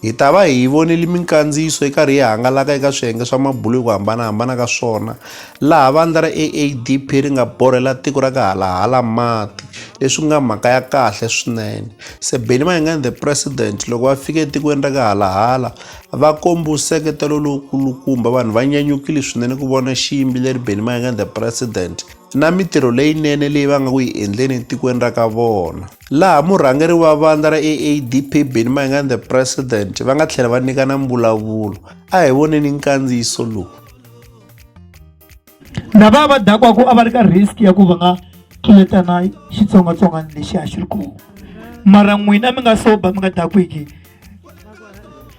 Hi ta va hi vonile minkandziyiso yi karhi yi hangalaka eka swiyenge swa mabulo hi ku hambana-hambana ka swona, laha vandla ra AADP ri nga borhela tiko ra ka halahala mati, leswi ku nga mhaka ya kahle swinene. Sebeni Mayengani The President loko va fike etikweni ra ka halahala, va kombe nseketelo lowu kulukumba, vanhu va nyanyukile swinene ku vona xiyimbeleri Benny Mayengani The President na mitirho leyinene leyi va nga ku yi endleni etikweni ra ka vona. laha murhangeri wa vandla ra AADP Benni Mayengani the President va nga tlhela va nyikana mbulavulo. A hi voneni nkandziyiso lowu. Lava va dakwaku a va ri ka risk ya ku va nga tluletana xitsongwatsongwana lexi a xi ri kona mara n'wina mi nga soba mi nga dakwiki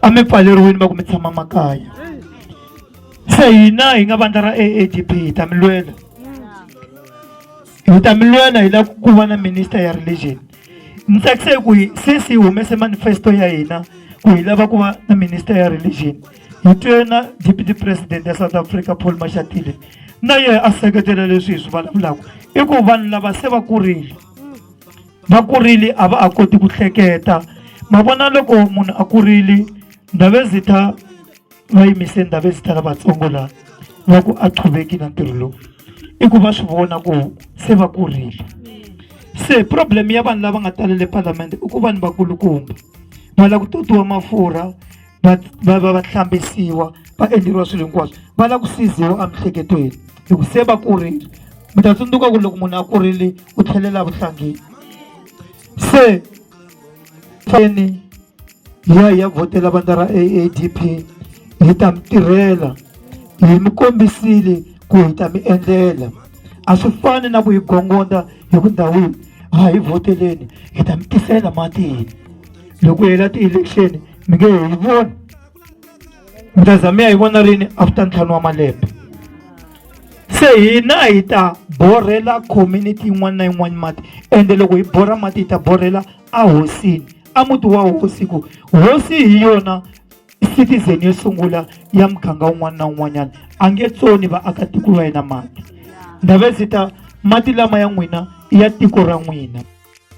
a mi pfaleriwini va ku mi tshama makaya se hina hi nga vandla ra aadp hi ta mi lwela hi ta mi lwela hi lava ku va na minister ya religion ni tsakise hi ku hi since hi humese manifesto ya hina ku hi lava ku va na minister ya religion hi twe na deputy president ya south africa paul mashatile na yena a seketela leswi hi swi vulavulaka i ku vanhu lava se va kurile va kurile a va a koti ku hleketa ma vona loko munhu a kurile ndhavezitha va yimise ndhawu ezita lavatsongo laha va ku a qhuveki na ntirho lowu i ku va swi vona ku se va kurile se problem ya vanhu lava nga talele palamende i ku vanhu vakulukumba va lava ku totiwa mafurha va va va va hlambisiwa va endleriwa swilo hinkwaswo va lava ku siziwa emiehleketweni hi ku se va kurile mi ta tsundzuka ku loko munhu a kurile u tlhelela vuhlangeni se feni hi ya hi ya vhotela vandla ra AADP hi ta mi tirhela hi mi kombisile ku hi ta mi endlela a swi fani na ku hi gongonda hi ku ndhawini a hi vhoteleni hi ta mi tisela matini loko hela ti-election mi nge hi voni mi ta za mi ya hi vona rini after ntlhanu wa malembe se hina hi ta borhela community yin'wana na yin'wana mati ende loko hi borha mati hi ta borhela ahosini a muti wa hosi ku hosi hi yona citizen yo sungula ya muganga un'wana na un'wanyana a nge tsoni vaakatiko va yena mati ndhave ndzi ta mati lama ya n'wina ya tiko ra n'wina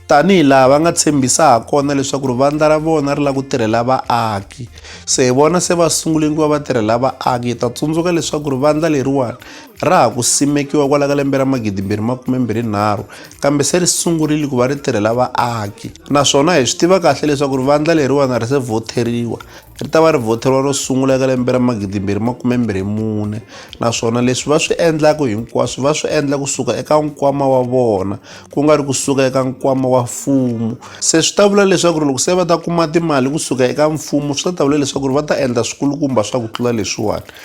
tanihi laha va nga tshembisa ha kona leswaku ri vandla ra vona ri lava ku tirhela vaaki se hi vona se va sungule ku va va tirhela vaaki hi ta tsundzuka leswaku ri vandla leriwani Ra ha ku simekiwa kwala ka lembe ra magidimbirhi makumembirhi nharhu, kambe se ri sungurile ku va ri tirhela vaaki. Naswona hi swi tiva kahle leswaku ri vandla leriwana ri se vhotheriwa. Ri ta va ri vhotheriwa ro sungula eka lembe ra magidimbirhi makumembirhi mune, naswona leswi va swi endlaka hinkwaswo va swi endla ku suka eka nkwama wa vona, ku nga ri ku suka eka nkwama wa mfumo. Se swi ta vula leswaku ri loko se va ta kuma timali ku suka eka mfumo swi ta ta vula leswaku ri va ta endla swikulukumba swa ku tlula leswiwani.